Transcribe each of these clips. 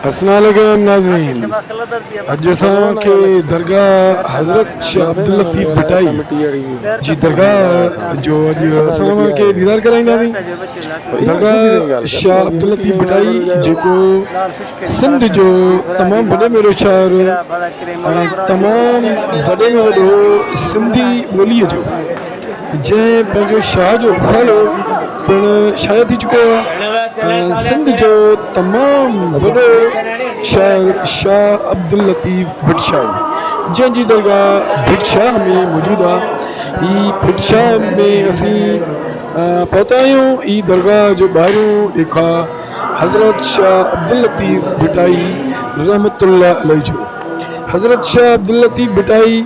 السلام عليڪم ناظرين اڄ اسان کي درگاهه حضرت شيخ عبداللطيف ڀٽائي جي درگاهه جو اڄ اسان اوهان کي ديدار ڪرائينداسين درگاهه شيخ عبداللطيف ڀٽائي جيڪو سنڌ جو تمام وڏي ۾ وڏو شاعر ۽ تمام وڏي ۾ وڏو سنڌي ٻولي جو جنهن پنهنجو شاهه جو رسالو پڻ شايع ٿي چڪو آهي ۽ سنڌ جو تمام وڏو شاعر شاهه عبداللطيف ڀٽ شاهي جنهن جي درگاهه ڀٽ شاهه ۾ موجود آهي هي ڀٽ شاهه ۾ اسين پهتا آهيون هي درگاهه جو ٻاهريون ڏيکاء حضرت شاهه عبداللطيف ڀٽائي رحمة الله عليه جو حضرت شاهه عبداللطيف ڀٽائي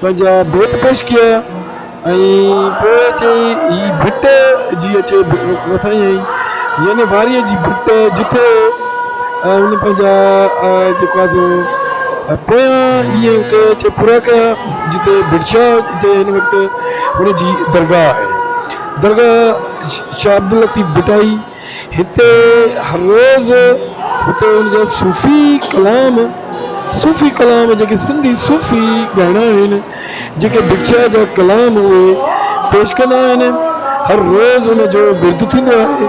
پنهنجا بيت پيش ڪيا ۽ پوء چيائين، هي ڀٽ جي اچي وسائين آهي، يعني واريء جي ڀٽ، جتي هن پنهنجا جيڪو آهي سو پويان ڏينهن ڪي چي پورا ڪيا، جتي ڀٽشاهه جتي هن وقت هن جي درگاهه آهي، درگاهه شاهه عبداللطيف ڀٽائي. هتي هر روز هتي ان جا صوفي ڪلام صوفي ڪلام جيڪي سنڌي صوفي ڳائڻا آهن جيڪي بگچاء جا ڪلام اهي پيش ڪندا آهن هر روز ان جو ورد ٿيندو آهي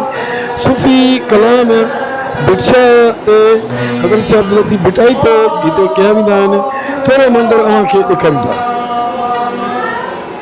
صوفي ڪلام بگچاء تي حضرت شاهه عبداللطيف ڀٽائي تي هتي ڪيا ويندا آهن ٿورو منظر اوهان کي ڏيکاريون ٿا.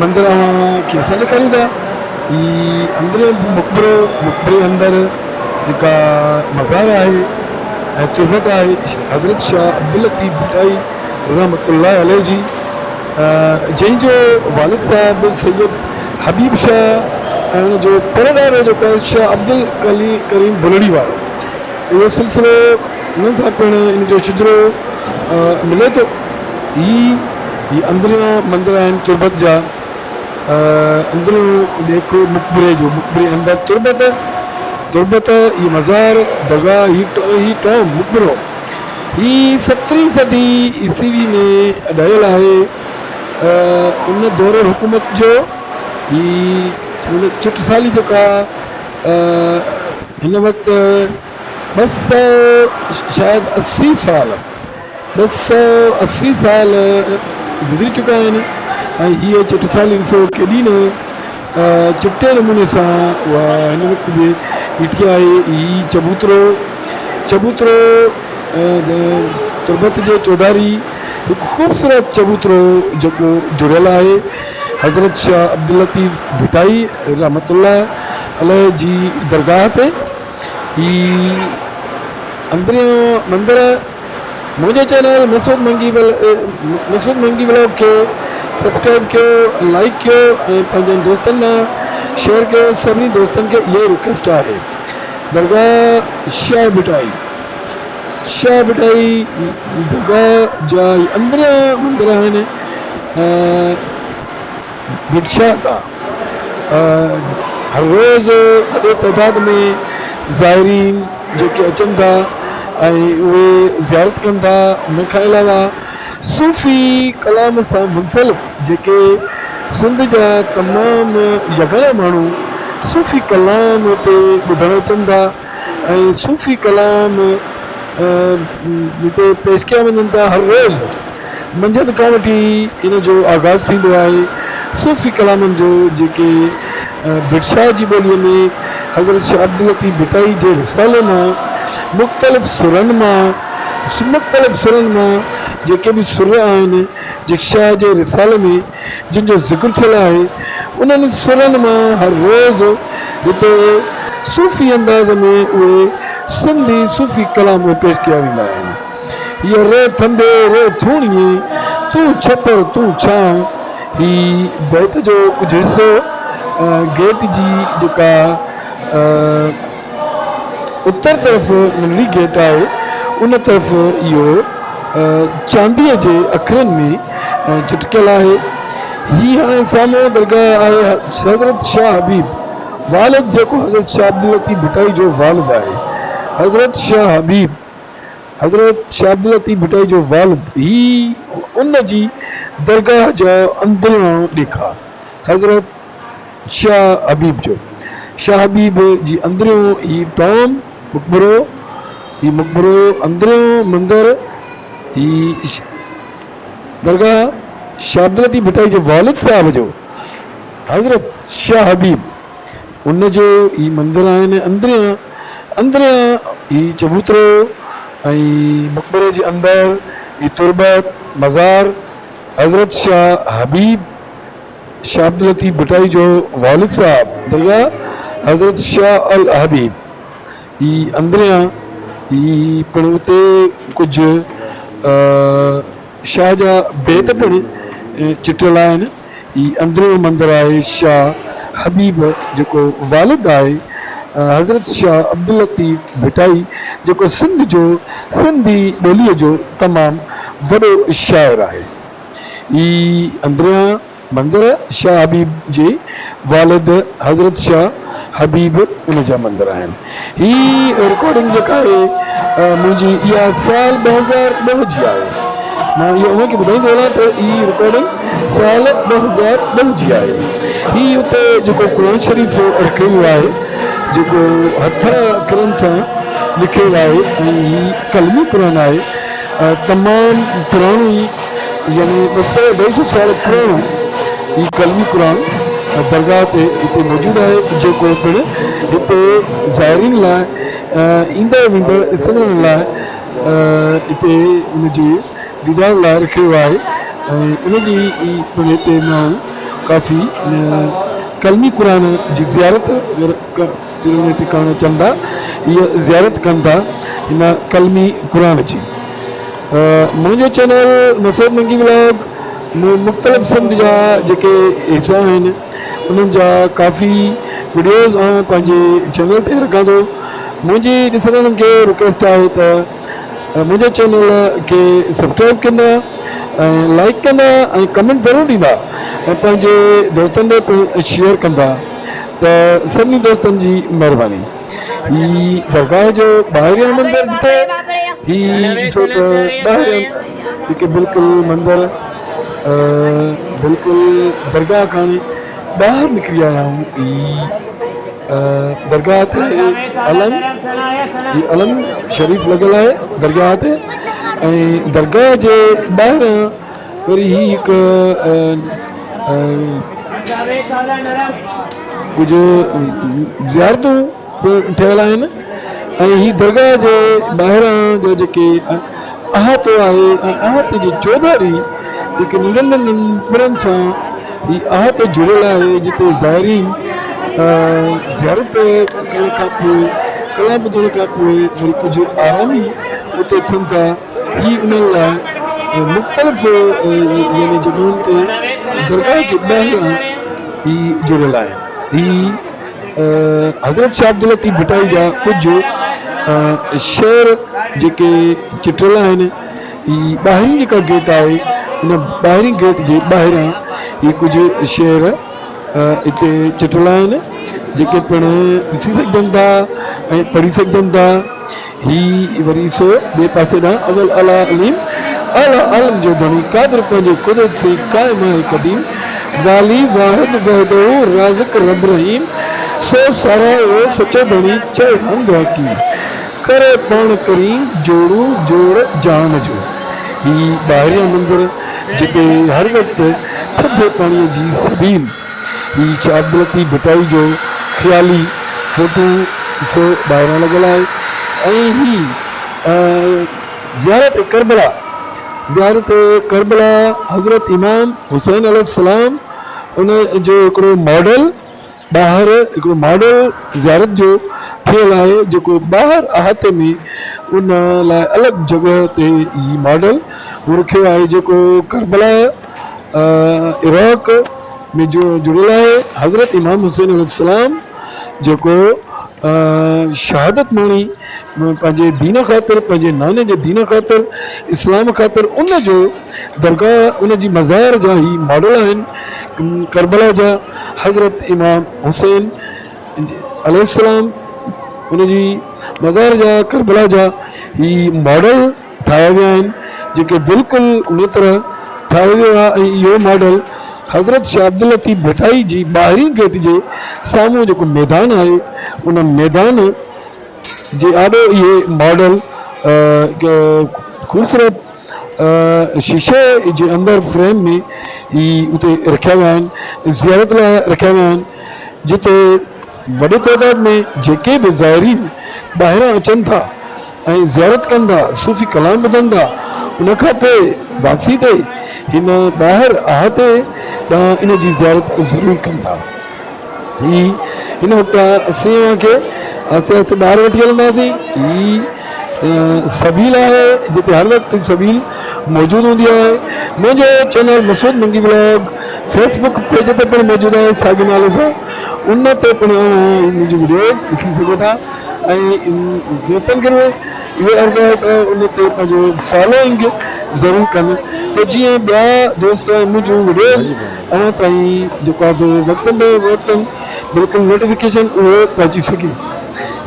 مندر اوهان کي اسان ڏيکاريون ٿا هي اندريون مقبرو مقبري اندر جيڪا مزار آهي ۽ قزت آهي حضرت شاهه عبداللطيف ڀٽائي رحمت الله عليه جي جنهن جو والد صاحب سيد حبيب شاهه ۽ ان جو پڙ ڏاڏو جيڪو آهي شاهه عبدالڪريم ڀلڙي وارو اهو سلسلو انهن سان پڻ ان جو شجرو ملي ٿو هي هي اندريون مندر آهن تربت جا. اندريون ڏيکو مقبري جو. مقبري اندر تربت، تربت هي مزار، درگاهه هي ٽوم، مقبرو. هي سترهين صدي عيسوي ۾ ڊهيل آهي. ان دور حڪومت جو هي چٽسالي جيڪا هن وقت ٻه سئو شايد اسي سال ٻه سؤ اسي سال گذري چڪا آهن ۽ هيء چٽسالي ڏسو ڪيڏي نه چٽي نموني سان اها هن وقت به بيٺي آهي. هي چبوترو، Chabutro، تربت جي چوڌاري هڪ خوبصورت چبوترو جيڪو جڙيل آهي حضرت شاهه عبداللطيف ڀٽائي رحمة الله عليه جي درگاهه تي. هي اندريان مندر. منهنجي چينل مسعود منگي ولاگ کي سبسڪرائب ڪيو لائيڪ ڪيو ۽ پنهنجن دوستن ڏانهن شيئر ڪيو سڀني دوستن کي اها ئي رڪويسٽ آهي درگاهه شاهه ڀٽائي شاهه ڀٽائي درگاهه جا اندريان مندر آهن ۽ ڀٽ شاهه تان هر روز وڏي تعداد ۾ زائرين جيڪي اچن ٿا ۽ اهي زيارت ڪن ٿا ان کان علاوه صوفي ڪلام سان منسلڪ جيڪي سنڌ جا تمام يگانا ماڻهو صوفي ڪلام هتي ٻڌڻ اچن ٿا. ۽ صوفي ڪلام جتي پيش ڪيا وڃن ٿا هر روز منجهند کان وٺي ان جو آغاز ٿيندو آهي صوفي ڪلامن جو جيڪي ڀٽ شاهه جي ٻوليء ۾ حضرت شاهه عبداللطيف ڀٽائي جي رسالي مان مختلف سرن مان مختلف سرن مان جيڪي به سر آهن جيڪي شاهه جي رسالي ۾ جن جو ذڪر ٿيل آهي، انهن سرن مان هر روز هتي صوفي انداز ۾ اهي سنڌي صوفي ڪلام پيش ڪيا ويندا آهن. هيء ري ٿنڀي ري ٿوڻيي، تون ڇپر تون ڇانء، هي بيت جو ڪجهه حصو ۽ گيت جي جيڪا. اتر طرف ننڍڙي گيٽ آهي، ان طرف اهو چانديء جي اکرن ۾ چٽڪيل آهي. هي هاڻي سامهون درگاهه آهي حضرت شاهه حبيب والد جيڪو حضرت شاهه عبداللطيف ڀٽائي جو والد آهي. حضرت شاهه حبيب حضرت شاهه عبداللطيف ڀٽائي جو والد هي ان جي درگاهه جو اندرئيون ڏيکار حضرت. شاهه حبيب جو شاهه حبيب جي اندريون هي ٽام مقبرو هي مقبرو اندريون مندر هي درگاهه شاهه عبداللطيف ڀٽائي جي والد صاحب جو حضرت شاهه حبيب ان جو هي مندر آهن اندريان اندريان هي چبوترو ۽ مقبري جي اندر هي تربت مزار حضرت شاهه حبيب شاھ عبداللطيف ڀٽائي جو والد صاحب درگاھ حضرت شاھ الحبيب ئي اندريان ئي پڻ اتي ڪجهه شاھ جا بيت پڻ چٽيل آهن. هي اندريون مندر آهي شاھ حبيب جيڪو والد آهي حضرت شاھ عبداللطيف ڀٽائي جيڪو سنڌ جو سنڌي ٻوليء جو تمام وڏو شاعر آهي. هي اندريان مندر شاهه حبيب جي والد حضرت شاهه حبيب ان جا مندر آهن. هي رڪارڊنگ جيڪا آهي منهنجي اها سال ٻه هزار ٻه جي آهي. مان اهو اوهان کي ٻڌائيندو هلان ته هي رڪارڊنگ سال ٻه هزار ٻه جي آهي. هي اتي جيڪو قرآن شريف رکيو ويو آهي جيڪو هٿ اکرن سان لکيل آهي ۽ هي قلمي قرآن آهي. تمام پراڻي يعني ٻه سؤ اڍائي سؤ سال پراڻو هي قلمي قرآن درگاهه تي هتي موجود آهي جيڪو پڻ هتي زائرين لاء ايندڙ ويندڙ سڄڻن لاء هتي ان جي ديدار لاء رکيو ويو آهي ۽ ان جي پڻ هتي ماڻهو ڪافي قلمي قرآن جي زيارت دل ۾ ٽڪاڻو چندا اهي زيارت ڪن ٿا هن قلمي قرآن جي منهنجو چينل نصير ننگي ولاگ مون مختلف سنڌ جا جيڪي حصا آهن انهن جا ڪافي وڊيوز آئون پنهنجي چينل تي رکان ٿو منهنجي ڏسندڙن کي رڪويسٽ آهي ته منهنجي چينل کي سبسڪرائب ڪندا ۽ لائڪ ڪندا ۽ ڪمينٽ ضرور ڏيندا ۽ پنهنجي دوستن ڏي پڻ شيئر ڪندا ته سڀني دوستن جي مهرباني هي درگاهه جو ٻاهريان منظر ڏٺو هي ڏسو ته ٻاهريان هڪ بلڪل منظر بلڪل درگاهه کان ٻاهر نڪري آيا آهيون هي درگاهه تي علم هي علم شريف لڳل آهي درگاهه تي ۽ درگاهه جي ٻاهريان وري هي هڪ ڪجهه زيارتون پڻ ٺهيل آهن ۽ هي درگاهه جي ٻاهران جا جيڪي احاطو آهي ۽ احاطي جي چوڌاري جيڪي ننڍن ننڍن پڙن سان هي احاطو جڙيل آهي جتي زائرين زيارت ڪرڻ کانپوء ڪلام ٻڌڻ کانپوء وري ڪجهه آرامي اتي ٿين ٿا. هي انهن لاء مختلف يعني جڳهين تي درگاهه جي ٻاهران ئي جڙيل آهن. هي حضرت شاهه عبداللطيف ڀٽائي جا ڪجهه شعر جيڪي چٽيل آهن. هي ٻاهرين جيڪا گيٽ آهي ان ٻاهرين گيٽ جي ٻاهران هي ڪجهه شعر اتي چٽيل آهن جيڪي پڻ ڏسي سگهجن ٿا ۽ پڙهي سگهجن ٿا. هي وري سو ٻئي پاسي ڏانهن اول اعليٰ عليم اعليٰ عالم جو بڻي قادر پنهنجي قدرت سين قائم آهي قديم والي واحد وحده رازق رب رحيم سو ساراهيو سچو ڌڻي چئي حمد حقي ڪري پاڻ ڪرين جوڙو جوڙ جهان جو هي ٻاهريان مندر جتي هر وقت ٿڌي پاڻي جي سبيل هي شاهه عبداللطيف ڀٽائي جو خيالي فوٽو جو ٻاهران لڳل آهي ۽ هي زيارت ڪربلا زيارت ڪربلا حضرت امام حسين عليه السلام ان جو هڪڙو ماڊل ٻاهر هڪڙو ماڊل زيارت جو ٺهيل آهي جيڪو ٻاهر احاطي ۾ ان لاء الڳ جڳهه تي هي ماڊل رکيو آهي جيڪو ڪربلا عراق ۾ جڙيل آهي حضرت امام حسين عليه السلام جيڪو شهادت ماڻي پنهنجي دين خاطر پنهنجي ناني جي دين خاطر اسلام خاطر ان جو درگاهه ان جي مزار جا هي ماڊل آهن ڪربلا جا حضرت امام حسين عليه السلام ان جي مزار جا ڪربلا جا هي ماڊل ٺاهيا ويا آهن جيڪي بلڪل ان طرح ٺاهيو ويو آهي ۽ اهو ماڊل حضرت شاهه عبداللطيف ڀٽائي جي ٻاهرين گيٽ جي سامهون جيڪو ميدان آهي ان ميدان جي آڏو اهي ماڊل خوبصورت شيشي جي اندر فريم ۾ ئي اتي رکيا ويا آهن زيارت لاء رکيا ويا آهن جتي وڏي تعداد ۾ جيڪي به زائرين ٻاهران اچن ٿا ۽ زيارت ڪن ٿا، صوفي ڪلام ٻڌن ٿا، ان کان پوء واپسي تي هن ٻاهر احاطي ڏانهن ان جي زيارت ضرور ڪن ٿا. هي هن وقت اسين اوهان کي آهستي آهستي ٻاهر وٺي هلنداسين. هي سبيل آهي جتي هر وقت سبيل موجود هوندي آهي. منهنجو channel Masood Mangi vlog face page تي پڻ موجود آهي ساڳي نالي سان. ان تي پڻ منهنجي وڊيو ڏسي سگهو ٿا ۽ دوستن کي به اهو عرض آهي ته ان تي پنهنجو فالوئنگ ضرور ڪن ته جيئن ٻيا دوست ۽ منهنجون وڊيوز اوهان تائين جيڪو آهي سو وقتن بي وقتن بلڪل نوٽيفڪيشن اهو پهچي سگهي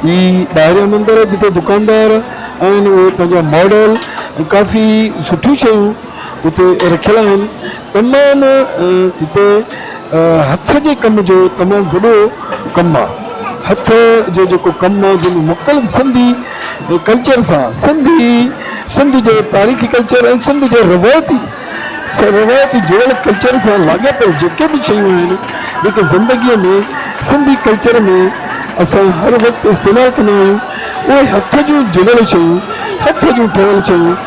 هي ٻاهريان مندر جتي دڪاندار آهن اهي پنهنجا ماڊل ۽ ڪافي سٺيون شيون اتي رکيل آهن تمام هتي هٿ جي ڪم جو تمام وڏو ڪم آ هٿ جو جيڪو ڪم آ جنهن ۾ مختلف سنڌي ڪلچر سان سنڌي سنڌ جو تاريخي ڪلچر ۽ سنڌ جو روايتي روايتي جڙيل ڪلچر سان لاڳاپيل جيڪي به شيون آهن جيڪي زندگي ۾ سنڌي ڪلچر ۾ اسان هر وقت استعمال ڪندا آهيون اهي هٿ جون جڙيل شيون هٿ جون ٺهيل شيون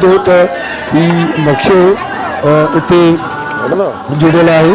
ٿو ته هي نقشو اتي جڙيل آهي.